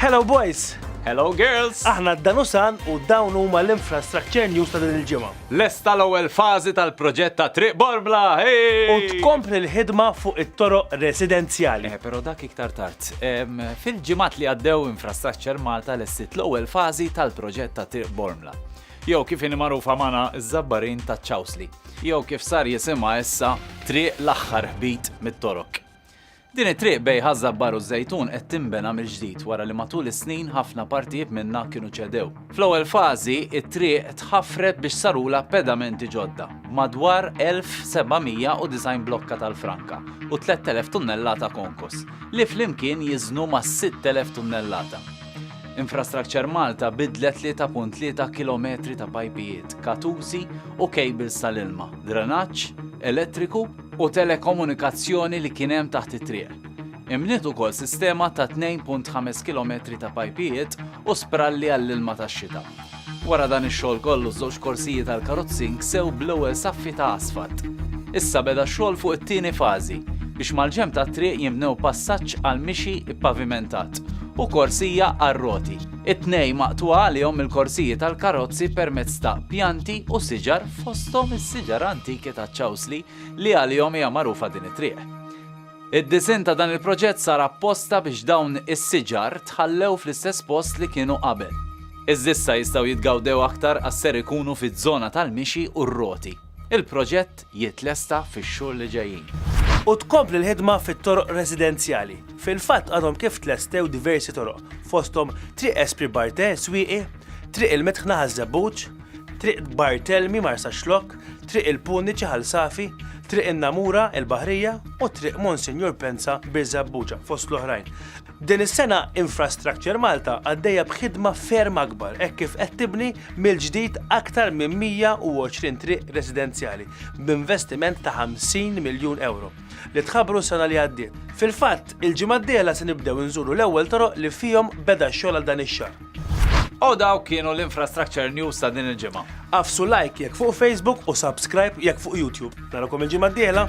Hello boys! Hello girls! Aħna d-Danusan u dawn huma l-infrastructure news ta' din il-ġimgħa. Lesta l-ewwel fażi tal-proġett ta' Triq Borbla! U tkompli l-ħidma fuq it-toroq residenzjali. Eh, però dak iktar tard. Fil-ġimgħat li għaddew Infrastructure Malta lessiet l-ewwel fażi tal-proġett ta' Triq Borbla. jew kif inhi magħrufa magħna ż-Żabbarin taċ-Ċawsli, jew kif sar jisimha issa Triq l-Aħħar Ħbit mit-Torok. Din it-triq bejn Ħaż-Żabbar u ż-Żejtun qed tinbena mill-ġdid wara li matul is-snin ħafna partijiet minnha kienu ċedew. Fl-ewwel fażi, it-triq tħaffret biex sarulha pedamenti ġodda, b'madwar 1,790 blokka tal-franka u 3,000 tunnellata konkos, li flimkien jiżnu mas-6,000 tunnellata. Infrastructure Malta bidlet 3.3 kilometri ta' pajpijiet, katużi u kejbils tal-ilma, drenaġġ, elettriku u telekomunikazzjoni li kien hemm taħt it-triq. Inbniet ukoll sistema ta' 2.5 kilometri ta' pajpijiet u spralli għall-ilma tax-xita. Wara dan ix-xogħol kollu ż-żewġ korsijiet għall-karozzi nksew bl-ewwel saffi ta' asfalt. Issa beda x-xogħol fuq it-tieni fażi biex mal-ġenb tat-triq jinbnew passaġġ għall-mixi ppavimentat u korsija għar-roti. It-tnejn maqtugħa għalihom mill-korsijiet għall-karozzi permezz ta' pjanti u siġar fosthom is-siġar antiki taċ-ċawsli li għalihom hija magħrufa din it-triq. Id-disinn ta' dan il-proġett sar apposta biex dawn is-siġar tħallew fl-istess post li kienu qabel. Iżda issa jistgħu jitgawdew aktar għax ser ikunu fiż-żona tal-mixi u r-roti. Il-proġett jitlesta fix-xhur li ġejjin. U tkompli l-ħidma fit-toroq residenzjali. Fil-fatt għadhom kif tlestew diversi toroq, fosthom Triq Espri Bartè, Swieqi, Triq il-Midħna ħaż-Żebbuġ, Triq Bartelmi, Marsaxlokk, Triq il-Puniċi, Ħal Safi, Triq in-Namura, il-Baħrija, u Triq Monsinjur Pensa, Birżebbuġa, fost l-oħrajn. Din is-sena Infrastructure Malta għaddejja b'ħidma ferm akbar hekk kif qed tibni mill-ġdid aktar minn 120 triq residenzjali b'investiment ta' 50 miljun ewro li tħabbru s-sena li għaddiet. Fil-fatt, il-ġimgħa d-dieħla se nibdew inżuru l-ewwel toroq li fihom beda x-xogħol għal dan ix-xahar. U dawk kienu l-Infrastructure News ta' din il-ġimgħa. Agħfsu like jekk fuq Facebook u subscribe jekk fuq YouTube. Narakom il-ġimgħa d-dieħla!